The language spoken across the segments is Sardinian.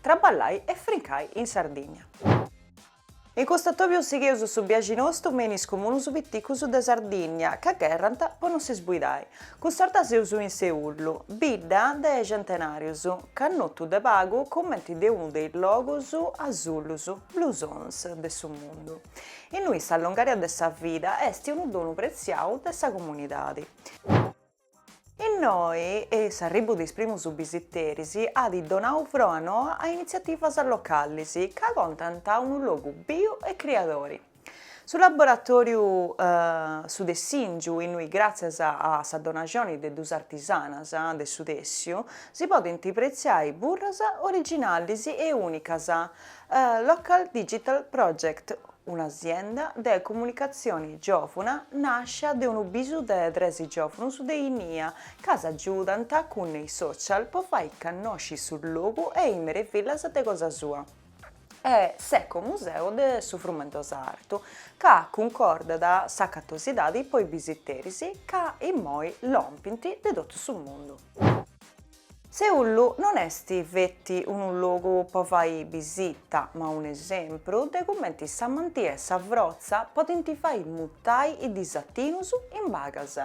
Traballai e frincai in Sardigna. In custu atobiu sigheus su biaxi nostu me in is comunus piticus de Sardigna ca gherrant po no si sbuidai. Cust'orta seus in Seullu, bidda de centenarius, cannotu de pagu cumenti de unu de is logus asullus, blue zones, de su mundu. Innui sa longària de sa vida est unu donu pretziau de sa comunidadi. Innoi s'arribu de is primus bisiteris at donau froa noa a initziativas localis ca contant unu logu biu e criadori. Su laboratòriu Su Tessìngiu, innui gràtzias a sa donaxoni de duas artisanas de su tèssiu si podint pretziai burras originalis e ùnicas, Local Digital Project, Un'asienda de comunicatzioni giòvuna nàscia de unu bisu de tres giòvunus de innia ca s'agiudant cun is social po fai cannosci su logu e is merivillas de cosa sua e s'ecomuseu de su Frumendosa Artu ca cuncordat s'acatosidadi po is bisiteris ca immoi lompint de totu su mundu. Seullu non est feti unu logu po fai bisita, ma un'esempru de cumenti s'amantia e sa frotza podint fai mudai is disatinus in bagas.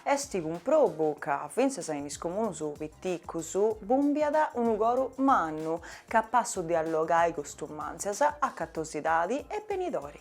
Est cumprobu ca fintzas in is comunus piticus bumbiat unu coru mannu, capassu de allogai costumàntzias, acatosidadi e benidori.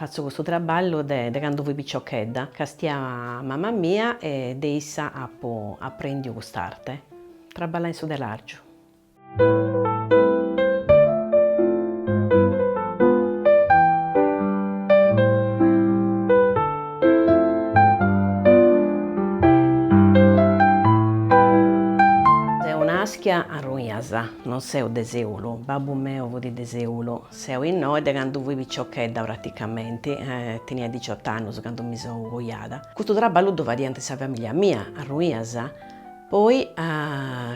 Fatzo custu traballu de de candu fui piciochedda, castià mama mia e de issa apu aprendiu cust'arte, traballai in su telàrgiu. Seu nàschia a Ruinas, non seu de Sèulu, babbu meu fut de Sèulu, seu innoi de candu fui piciochedda praticamenti, tenia diciot'annus candu mi seu coiada. Custu traballu ddu fadiant sa famìllia mia a Ruinas, Poi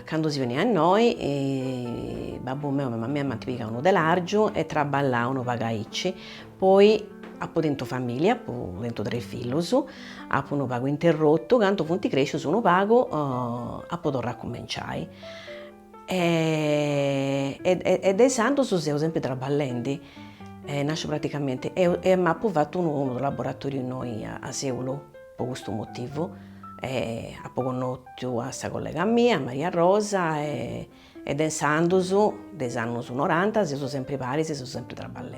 candu seu bènnia innoi babbu meu e mama mia m'ant pigau unu telàrgiu e traballau unu pagu aici, poi apu tentu famìlia, apu tentu tres fillus, apu unu pagu interrotu, candu funt crèscius unu pagu apu torrau a cumenciai e de insandus seu sempri traballendi, nasciu praticamenti e m'apu fatu unu unu laboratoriu innoi a Seulu po custu motivu e apu connotu a sa collega mia, a Maria Rosa e de insandos, de is annos noranta seus sempri paris, seu sempri traballendi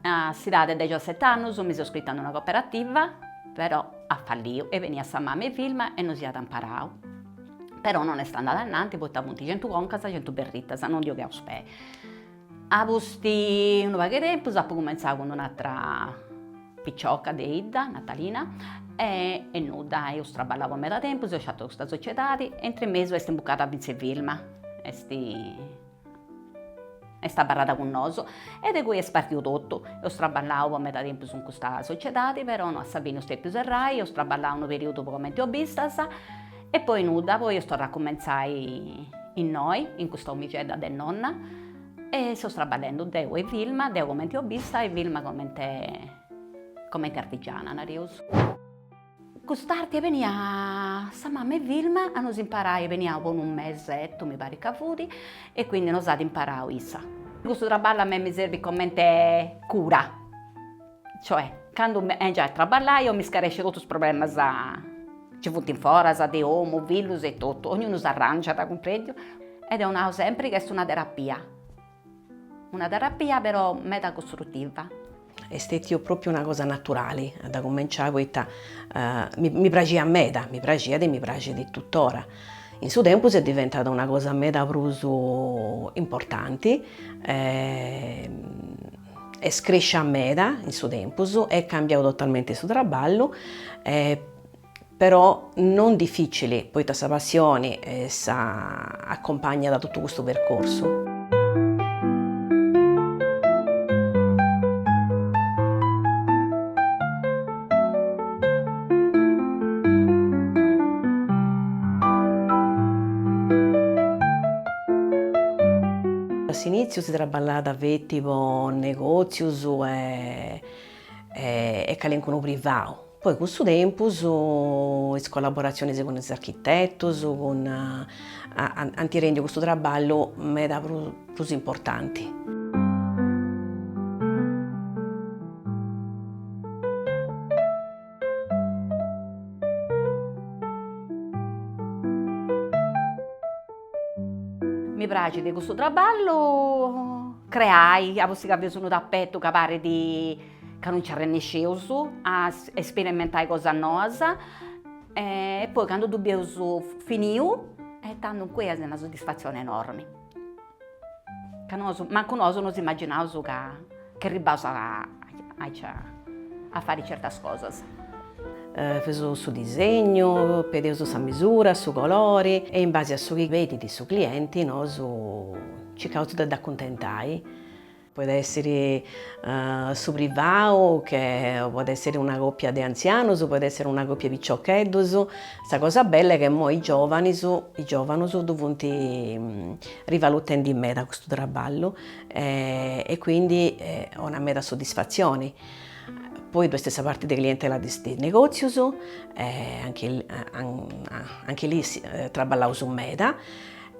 A s'idade de dexosete annus mi seu iscrita a una coperativa, però at falliu e beniat sa mama 'e Vilma e nos iat amparau. Però non est andada ananti poita funt centu concas, centu berritas, non dd'io cheaus pei. A pustis 'e unu pagu 'e tempus apu cumentzau cun un'atra picioca de 'idda, Natalina, e nudda, eus traballau po meda tempus, eus sciatu custa sociedadi e intre mesu est imbucada fintzes Vilma, est Est abarrada cun nosu e de cui est partiu totu. Eus traballau po meda tempus in custa sociedadi, però a sa fini eus dèpiu serrai, eus traballau unu perìudu po comente obistas e poi nudda, poi eus torrau a cumentzai innoi, in custa omixedda de nonna e seus traballendu, deu e Vilma, deu comente obista e Vilma comente comente artigiana, nareus. Cust'arte beniat sa mama 'e Vilma a nos imparai, beniat po unu mesettu mi parit ca fut e quindi nos at imparau issa. Custu traballu a mei mi serbit comente cura, cioè candu bengiu a traballai eo mi scaresciu totus is problemas chi funt in foras de omu, fillus e totu, ognunu s'arrangiat, cumprendis, e deu nau sempri ca est una terapia Una terapia però meda costrutiva. Est stètiu pròpiu una cosa naturali a dda cumenciai poita mi praxiat meda, mi praxiat e mi praxit tutora. In su tempus est diventada una cosa meda prus importanti, est crescia meda in su tempus, est cambiau totalmenti su traballu e però non dificili poita sa passioni at accompagnau totu custu percorsu. A s'initziu si traballàt feti po negozius e calincunu privau. Poi cun su tempus is collaboratzionis cun is architetus ant rendiu custu traballu meda prus importanti. Mi praxit custu traballu creai, a pustis ca bius unu tapetu ca parit ca non nci arrennesceus a esperimentai cosas noas e poi candu ddu bieus finiu e tandus incui est una soddisfatzione enormi, ca nosu, mancu nosu nos immaginaus ca arribbaus aici a fai certas cosas. Faius su disegnu, pedius sa misura, su colori e in base a su chi pedit su clienti nosu circaus de dd'acuntentai. Podet èssere su privau, che podet èssere una còpia de antzianus, podet èssere una còpia 'e piciocheddus. Sa cosa bella est chi imoi is giòvanes, is giòvanus ddu funt rivalutendi meda custu traballu e quindi 'onat meda soddisfatzioni. Poi ddoe est sa parti de clientela de is negòtzius e anche lì traballaus meda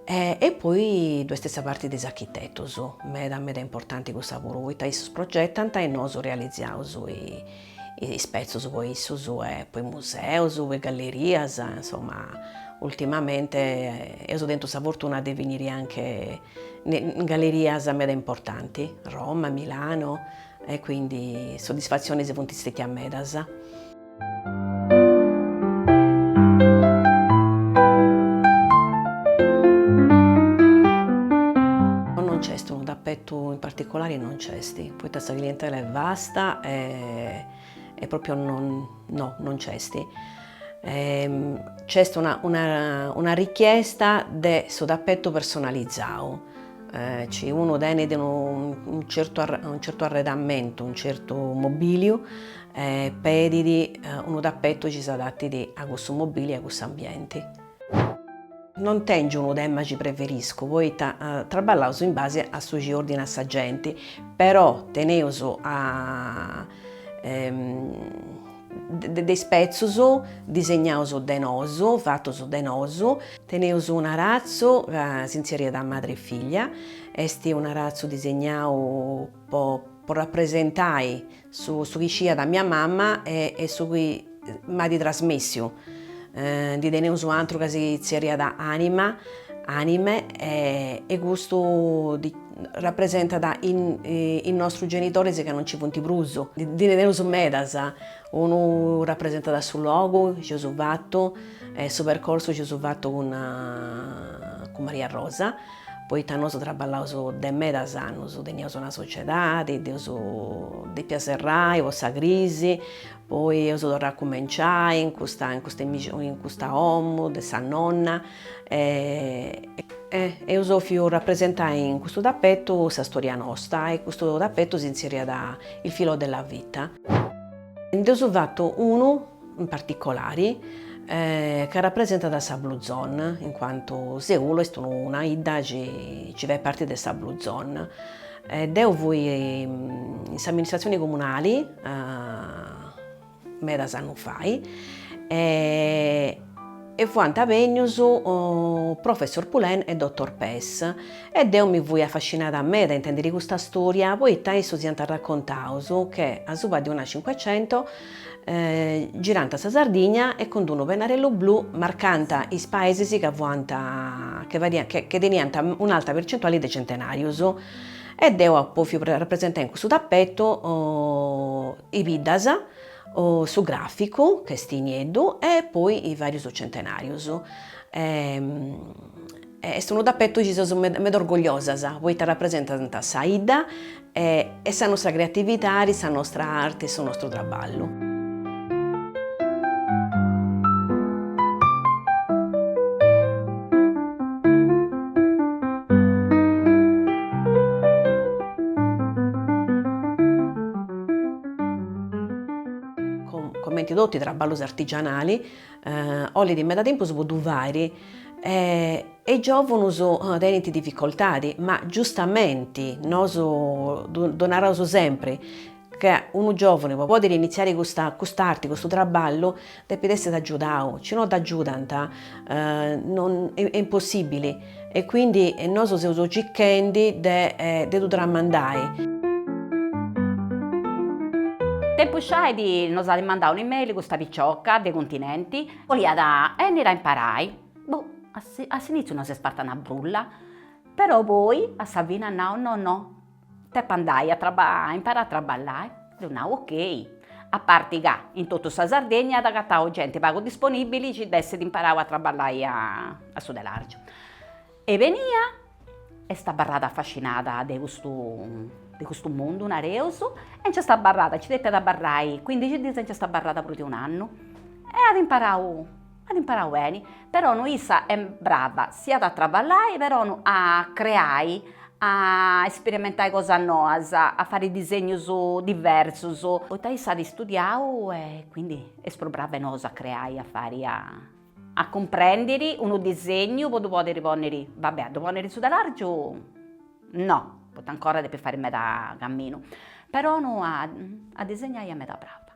E poi ddu est sa parti de is architetus, meda meda importanti cussa puru, poita issus progetant e nosu realizaus is petzus po issus e po is museus, po is gallerias, insoma ultimamente eus tentu sa fortuna de finiri anche in gallerias meda importanti, Roma, Milano, e quindi soddisfatzionis funt stetias medas. in particulari non c'est, poita sa clientela est vasta e e proprio non no non c'est. C'est una una una richiesta de su tappetu personalizadu, chi unu tenit unu certu unu certu arredamentu, unu certu mobiliu E pedit unu tapetu chi s'adatit a cussu mobili e a cussu ambienti. Non tèngio unu tema chi preferescu poita traballaus in base a su chi ordinat sa genti, però teneus de is petzus disegnaus de nosu, fatus de nosu. Teneus un'aratzu ca si tzèrriat Madre e Figlia, est unu aratzu disegnau po rapresentai Su su chi sciiat mia mamma e e su chi m'at trasmìtiu. Ndi teneus un'antru ca si tzerriat Anima, Anime, e e custu rapresentat is is nostrus genitoris ca no nci funt prus. Ndi teneus medas, unu rapresentat su logu chi eus fatu e su percorsu chi eus fatu cun cun Mariarosa Poita nosu traballaus de medas annus, teniaus una sociedadi, dd'eus dèpia serrai po sa crisi, poi eus torrau a cumenciai in custa in custa in custa 'omu de sa nonna e eus 'òfiu rapresentai in custu tapetu sa storia nosta e custu tapetu s'inzerriat il filo della vita. Nd'eus fatu unu in particolari, ca rapresentat sa Blue Zone, in cuantu Seulu est una 'idda chi chi fait parti de sa Blue Zone. Deu fui in s'amministratzioni comunali medas annus fai e e fuant bènnius Professor Poulain e Dottor Pes e deu mi fui afascinada meda a intèndiri custa stòria poita issos iant arracontaus che asuba de una cincuecento Girant sa Sardigna e cun unu pennarellu blu marcant is paesis ca fuant che fadiant che che teniant un'alta percentuali de centenarius e deu apu 'òfiu rapresentai in cussu tapetu is biddas su graficu ch'est nieddu e poi is varius centenarius Est unu tapetu chi seus meda orgogliosas poita rapresentant sa 'idda e sa nostra creatividadi, sa nostra arti e su nostru traballu. Comenti totu is traballus artigianali, Olit meda tempus po ddu fàiri e is giòvunus tenint dificoltadi, ma giustamenti, nosu ddu naraus sempri, ca unu giòvunu po pòdiri initziari custa cust'arti, custu traballu, depit èssiri agiudau, si no dd'agiudant, est impossìbili. E quindi nosu seus cicchendi de de ddu tramandai. Tempus fait nos at mandau un'email custa picioca de Continenti, boliat 'ènniri a imparai, boh, a s'initziu nos est parta una brulla, però poi a sa fini at nau no no, Depo andai a imparai a traballai, dd'eus nau ok. A parti ca in totu sa Sardegna at agatau genti pagu disponibili chi dd'essit imparau a traballai a a su telàrgiu. Est bènnia, est abarrada afascinada de custu de custu mundu, nareus, e nci est abarrada, nci depiat abarrai cuindixi diis e nci est abarrada prus de un'annu e at imparau At imparau beni, però no issa est brava si at a traballai, però no a creai, a isperimentai cosas noas, a fai disegnus diversus. Poita issa at istudiau e quindi est prus brava 'e nosu a creai, a fai, a cumprendiri unu disegnu po ddu podiri ponniri, va bè a ddu ponniri in su telàrgiu no, poita ancora depit fai meda caminu, però no a disegnai est meda brava.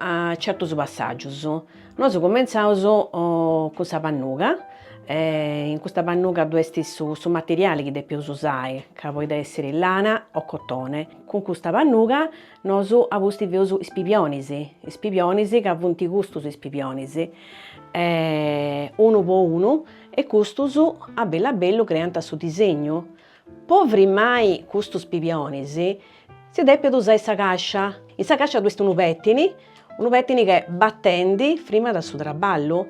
A certos passàgios nosu cumentzaus cun sa pannuga e in custa pannuga ddu est su materiali chi depeus usai ca podit essiri lana o cotone. Cun custa pannuga nosu a pustis feus is pibionis, is pibionis ca funt custus is pibionis unu po unu e custus a bellu a bellu creant su disegnu Po frimmai custus pibionis si depit usai sa cascia, in sa cascia ddu est unu pettini, unu pettini che battendi frimmat su traballu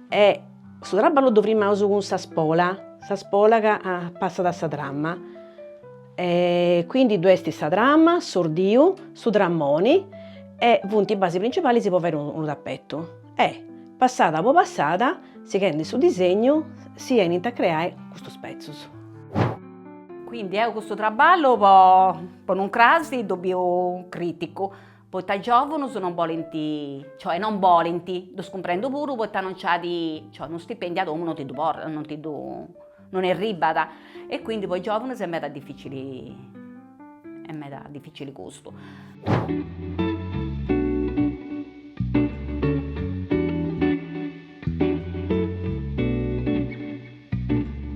e su traballu ddu frimmaus cun sa spola, sa spola ca passat sa tramma e quindi ddu est sa tramma, s'ordiu, su trammoni e funt is basis principalis po fai unu tappetu. E, passada po passada, sighendi su disegnu, si 'enint a creai custus petzos. Quindi deu custu traballu po unu crasi ddu biu criticu, poita is giovunus non bolint, cioè non bolint, ddus cumprendu puru poita non nc'at, cioè unu stipendiu a domu non ti ddu non ti ddu Non arribat e quindi po is giòvunos est meda dificili, est meda dificili custu.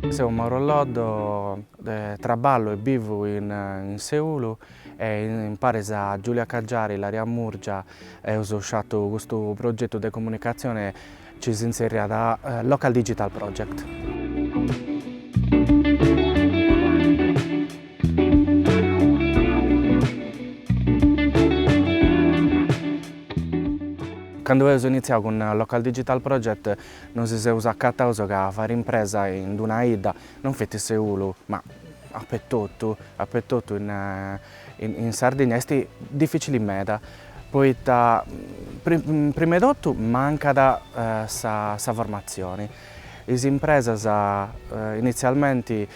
Seu Mauro Loddo, traballu e bivu in Seulu e in paris a Giulia Caggiari, Ilaria Murgia eus pesau custu progetu de comunicatzione Ci si tzerriat Local Digital Project. Candu eus initziau cun Local Digital Project nos seus acataus ca fàiri impresa in d-una 'idda non feti Seulu, ma apetotu, apetotu in In Sardigna est dificili meda poita prima 'e totu mancat sa formatzioni. Is impresas initzialmenti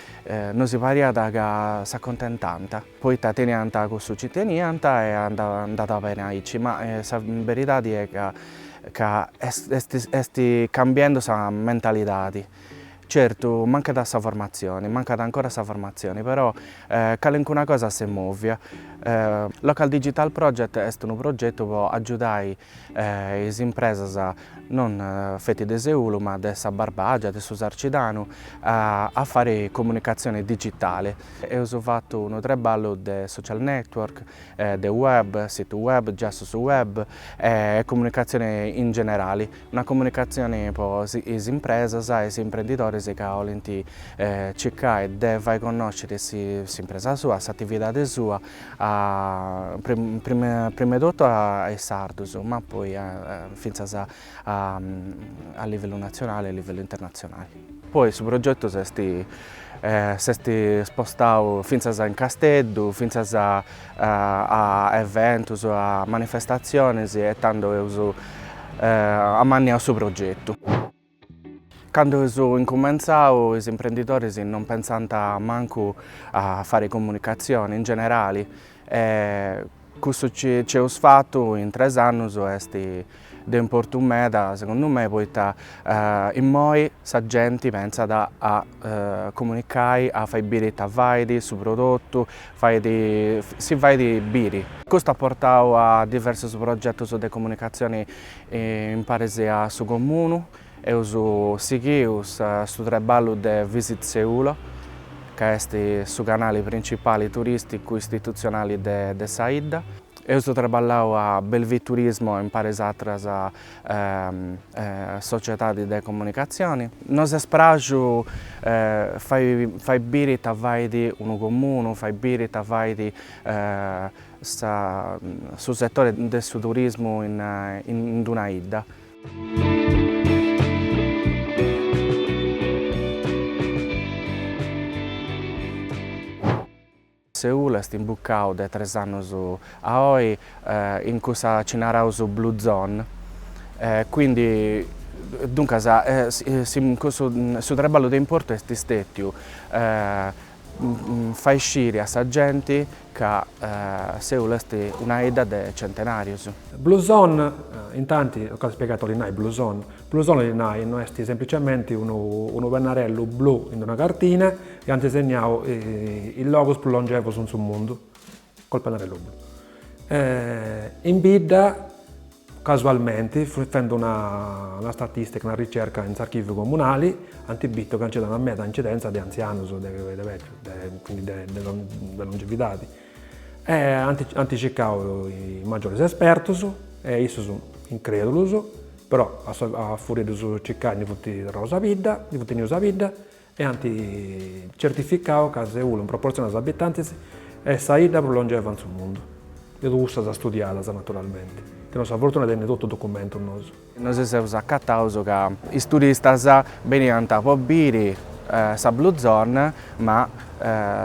nosi pariat ca s'accontentànt poita teniant cussu ci teniant e andàt beni aici ma sa beridadi est ca est cambiendu sa mentalidadi Certu, mancat sa formatzioni, mancat ancora sa formatzioni, però calencuna cosa s'est mòvia. Local Digital Project est unu progetu pro agiudai is impresas, non feti de Seulu ma de sa Barbagia, de su Sarcidanu, a fai comunicatzioni digitali. Eus fatu unu traballu de social network, de web, situ web, giassus web e comunicatzioni in generali. Una comunicatzioni po is impresas e is imprendidores ca 'olint circai de fai connosciri s'impresa sua, s'atividadi sua a prima 'e totu a is sardus ma poi fintzas a livellu natzionali e a livellu internatzionali. Poi su progetu s'est s'est spostau fintzas in Casteddu, fintzas a eventus, a manifestatziones e tando eus amanniau su progetu. Candu eus incumentzau is imprendidores non pentzant mancu a fare comunicatzione in generale e cussu chi eus fatu in tres annus est De importu meda segundu me poita immoi sa genti pentzat a comunicai, a fai biri ita fait, su prodotu, fait, si fait biri. Custu at portau a diversus progetus de comunicatzioni imparis a su comunu. Eus sighiu su traballu de Visit Seulo, ca est su canali principali turisticu istitutzionali de sa 'idda. Eus traballau a Belvì Turismo imparis atras sociedades de comunicatzioni. Nos est praxu fai fai biri ita fait unu comunu, fai biri ita fait sa su setore de su turismu in in una 'idda. Seulu est imbucau de tres annus a oi in cussa chi naraus blue zone e quindi duncas cussu su traballu de importu est stetiu fai sciri a sa genti ca Seulu est una 'idda de centenarius. Blue zone, intanti, tocat spiegai ita bolit nai blue zone, Blue zone nai no, est semplicemente unu, unu pennarellu blu in una cartina e ant segnau is logos prus longevos in su mundu col pennarellu blu. In bidda casualmente, fendo una una statistica, una ricerca in s'archiviu comunali, ant bitu ca nci fut una meda incidenza de anzianus, de de de longevidadi E ant circau is magioris espertus e issus incrèdulus, però a fùria de ddus circai ndi funt torraus a bidda, ndi funt benius a bidda e ant certificau ca Seulu in proportzioni a is abitantis est sa idda prus longeva in su mundu, de cussas studiadas naturalmenti, teneus sa fortuna de tenni totu documentus nosu. Nosu si seus acataus ca is turistas beniant po biri sa Blue Zone, ma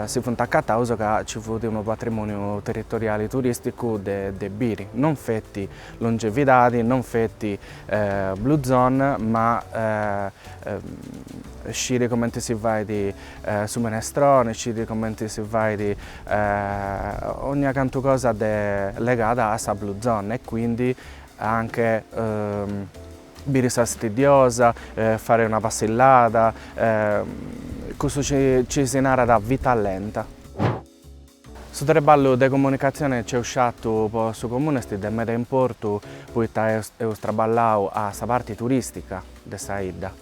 si funt acataus ca nci fut unu patrimòniu territoriali turìsticu de biri, non feti longevidadi, non feti Blue Zone, ma sciri cumenti si fait su minestrone, sciri cumenti si fait ogna cantu cosa legada a sa Blue Zone e quindi Anche biri Sa Stiddiosa, fare una passillada, cussu ci si narat vita lenta. Su treballu de comunicatzione c'eus sciatu po su Comune est de meda importu poita eus traballau a sa parti turistica de sa 'idda,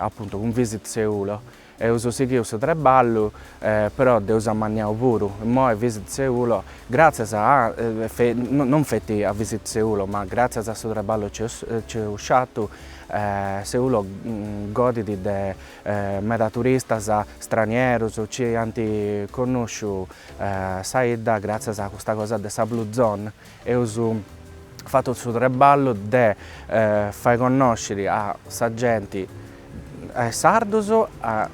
apuntu cun Visit Seulo, Eus sighiu su treballu, però dd'eus amanniau puru, imoi visit Seulo, gràtzias a, non feti a visit Seulo, ma gràtzias a su treballu c'eus sciatu, Seulo godit de meda turistas stranierus, ci ant connusciu sa 'idda gràtzias a custa cosa de sa Blue Zone, Eus fatu su treballu de fai connosciri a sa genti, a is sardus, a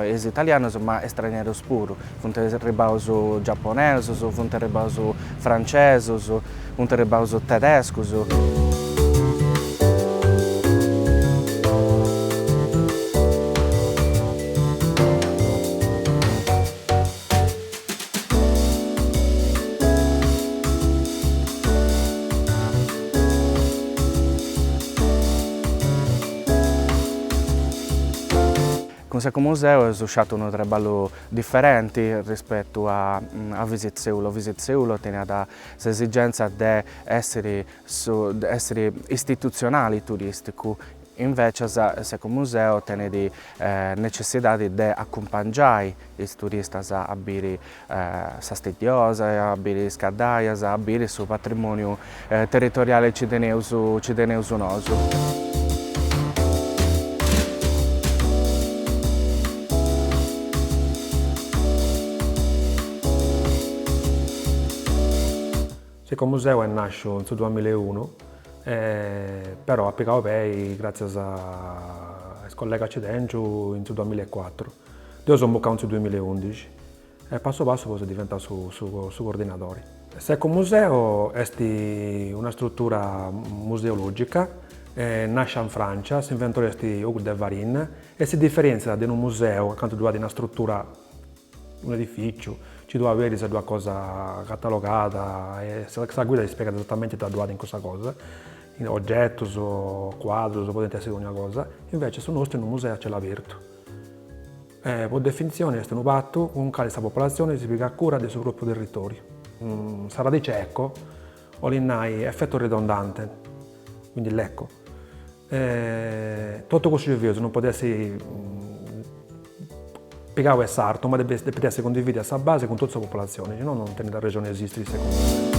is italianus ma estranierus puru, funt arribaus giaponesus, funt arribaus francesus, funt arribaus tedescus. Cun s'Ecomuseu eus sciatu unu treballu diferenti rispetu a a Visit Seulo, Visit Seulo teniat s'esigenza de essiri su de essiri istitutzionali turisticu Invècias s'Ecomuseu tenet necessidadi de acumpangiai is turistas a biri Sa Stiddiosa, a biri Is Caddaias, a biri su patrimòniu territoriali ci teneus ci teneus nosu. S'ecomuseu est nàsciu in su duamilla e unu, però at pigau pei gràtzias a is collegas chi tèngiu in su duamilla e cuatru. Deu seu imbucau in su duamilla e undixi e passu passu seu diventau su coordinadori. S'ecomuseu est una strutura museològica nàscia in Frància, s'inventori est Hugues de Varine e si diferèntziat de unu museu, acantu ddu at una strutura Unu edifìciu, nci ddu aberis, ddu at cosa catalogada e sa guida ti spiegat esatamente ita ddu at in cussa cosa, ogetus, cuadrus, podint essi dònnia cosa, invece su nostru est unu museu a cielu abertu e po definitzioni est unu patu cun cali sa populatzioni si pigat cura de su propriu territòriu. Sa radice eco Olit nai effetto ridondante, quindi l'eco. E totu cussu chi fius non podit essi pigau 'e s'artu, ma depit essi cundividu a sa base cun totu sa populatzioni, si no non tenit arrexoni a esistiri segundu mei.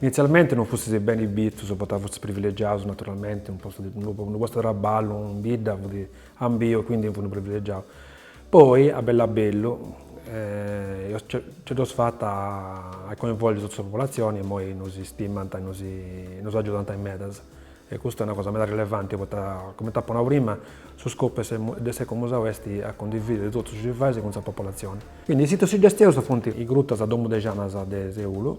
Initzialmente non fustis beni bitus, poita fustis privilegiaus naturalmente, unu postu de unu postu de traballu in bidda fut ambiu, quindi in fut unu privilegiau. Poi a bellu a bellu eus nci dd'eus fata a coinvolgi totu sa populatzioni e imoi nos istimant e nos nos agiudant meda. E custa est una cosa meda rilevanti poita, cumenti apu nau prima, su scopu de s'ecomuseu est a cundividiri totus is fasis cun sa populatzioni. Quindi is situs suggestionus funt is grutas Domu de Janas de Seulu,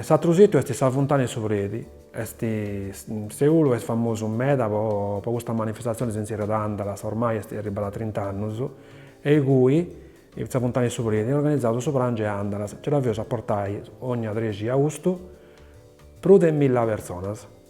S'atru situ est sa Funtana 'e su Predi, est Seulu est famosu meda po po custa manifestatzione, si tzèrriat Andalas, ormai est arribbada a trint'annus, e icui, sa Funtana 'e su Predi, est organizadu su pràngiu 'e Andalas, nci dda fius a portai, ogna trexi 'e austu, prus de milla personas.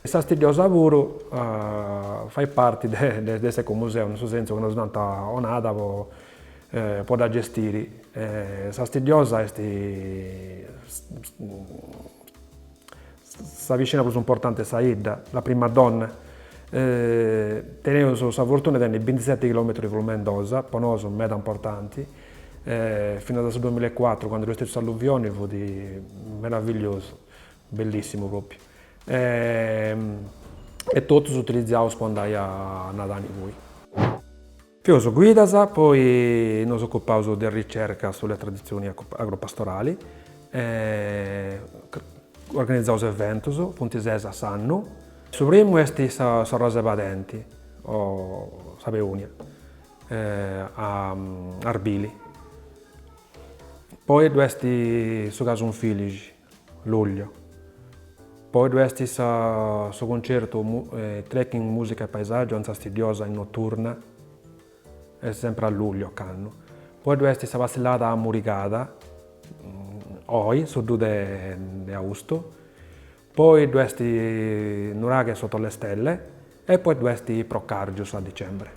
E sa Stiddiosa puru fait parti de s'ecomuseu, in su sentzu chi nos dd'ant donada po dda gestiri. Sa Stiddiosa est sa piscina prus importanti 'e sa 'idda, la prima donna. Teneus sa fortuna 'e tenni bintiseti chilometrus 'e Flumendosa, po nosu meda importanti, finas a su duamilla e cuatru candu dd'est stetiu s'alluvioni fut meravigliosu Bellissimu propriu e totus utilizaus po andai a nadai. Poi fius guidas, poi nos occupaus de ricerca sulla tradizioni agropastorali, organizaus eventus, funt ses a s'annu, su primu est s'arrosa 'e padenti o sa peonia a arbili, poi ddu est su casu in filixi. Luglio. Poi ddu est sa su concertu Trekking Musica e Paesaggio in Sa Stiddiosa in notturna est sempre a luglio ocannu. Poi ddu est sa passillada Amurigada oi su dus de de austu. Poi ddu est Nuraghe sotto le stelle e poi ddu est Procargius a dicembre.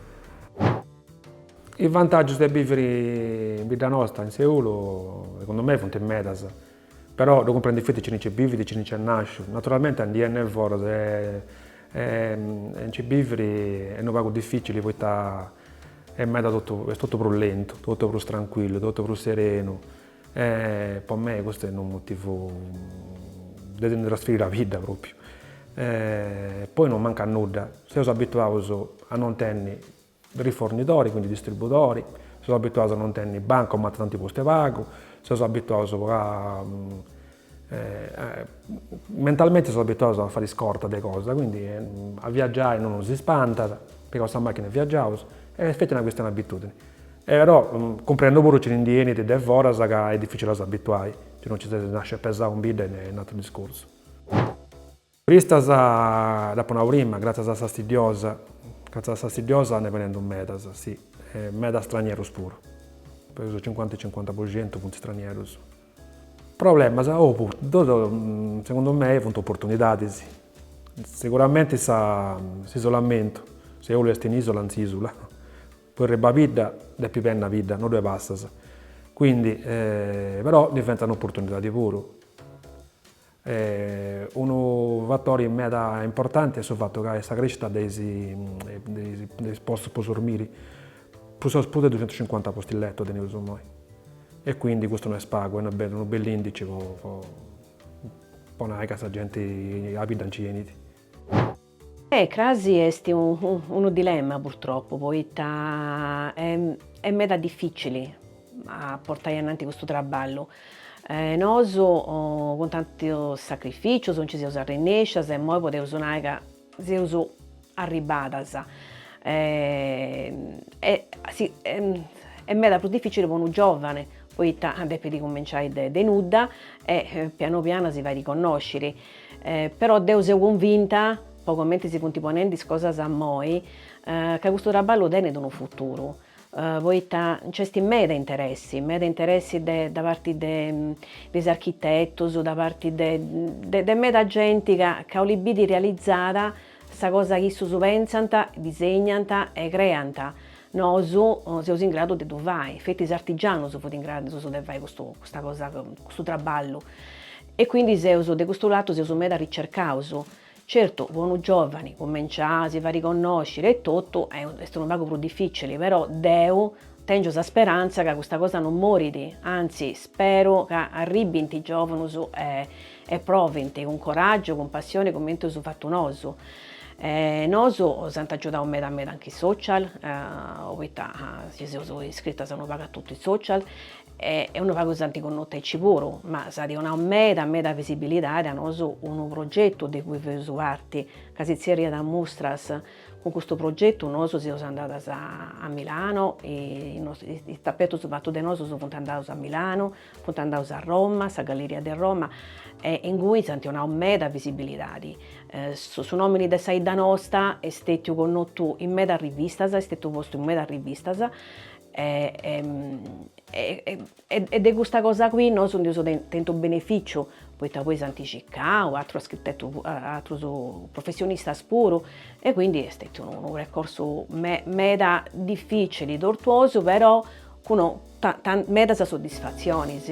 Is vantagius de biviri in bidda nosta in Seulu segundu mei funt medas. Però ddu cumprendit feti cini nci bivit, cini nci est nàsciu. Naturalmenti a ndi 'enni de foras e nci biviri est unu pagu dificili poita est meda totu, est totu prus lentu, totu prus trancuillu, totu prus serenu e po mei custu est unu motivu de si ndi trasferiri a bidda propriu. Poi non mancat nudda, seus abituaus a non tenni Rifornidori, quindi distribudori, seus abituaus a non tenni bancomat, dd'ant postu 'e pagu, seus abituaus a mentalmenti seus abituaus a fai scorta de cosa, quindi a viaggiai non nosi spantat, pigaus sa machina e viaggiaus, e est feti una chistioni de abitudini. Però cumprendu puru cini ndi 'enit de foras ca est dificili a s'abituai, si no nci ses nasciu pesau in bidda est un'ateru discursu. Turistas dd'apo nau prima, gràtzias a sa stiddiosa, gràtzias a sa stiddiosa nd'est benendu medas, si, e medas stranieros puru, peus su cincuanta e cincuanta po centu funt stranieros. Problemas, oh funt, ddus, segundu mei, funt oportunidadis. Seguramenti sa, s'isolamentu, Seulu est un'isula in s'isula, po arribai a bidda depis benni a bidda, no ddue passas, quindi, però diventant oportunidadi puru. Unu fatori meda importanti est su fatu ca est sa crescita de is de is postus po sormiri, prus o is prus de duxentucincuanta posti letto teneus imoi e quindi custu no est pagu, est unu bell'indici po po nai ca sa genti a bidda nci 'enit. E crasi est unu dilemma purtropu, poita est meda dificili a portai ananti custu traballu. Nosu cun tantus sacrificius nci seus arrennescias e immoi podeus nai ca seus arribbadas. Est meda prus dificili po unu giovane, poita depit cuminciai de nudda e pianu pianu si fai connosciri. Però deu seu convinta, po comenti si funt ponendi is cosas immoi, ca custu traballu tenit unu futuru, poita nc'est meda interessi, meda interessi de da parti de de is architetus, da parti de de meda genti ca ca 'olit biri realizada sa cosa chi issus pentzant, disegnant e creant, nosu seus in gradu de ddu fai, feti is artigianus funt in gradu de fai custu custa cosa custu traballu E quindi seus, de custu latu seus meda arricercaus. Certu, po unu giovani, cumenciai a si fai riconnosciri e totu, est unu pagu prus difficili, però deu tèngio sa speranza ca custa cosa non morit, anzi, speru ca arribbint giovunus e e provint, cun coraggiu, cun passioni cumenti eus fatu nosu. E nosu s'ant agiudau meda meda anche is social, poita si seus iscritas unu pagu a totu is social, e unu pagu s'ant connotu aici puru, ma s'at donau meda meda visibilidade a nosu unu progetu de cui feus parti, ca si tzerriat Mustras, cun custu progetu nosu seus andadas a Milano, is tapetus fatus de nosu funt andaus a Milano, funt andaus a Roma, sa galleria de Roma, e ingui s'ant donau meda visibilidadi, su nomini de sa 'idda nosta est stetiu connotu in medas rivistas, est stetiu postu in medas rivistas, e de custa cosa qui nosu nd'eus tentu benefìciu, poita poi s'ant circau aterus architetus, aterus professionistas puru, e quindi est stetiu unu percorsu meda difficili, tortuosu, però cun medas soddisfatzionis.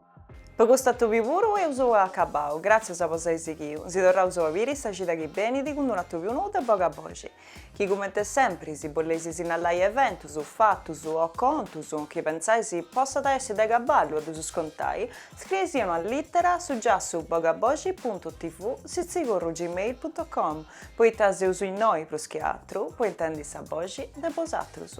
Po custu atòbiu puru eus acabau, gratzius po s'ai sighiu, si torraus a biri sa cida chi benidi cun d'unu atòbiu nou de Bogaboxi, chi cumenti sempri, si boleis sinnallai eventus, fatus, o contus, chi pentzais possada essi de caballu a dus contai, scriei·sì una littera a su giassu bogaboxi.tv sitzigorru gmail.com, poita seus innoi prus chi atru, po intendi sa boxi de bosatrus.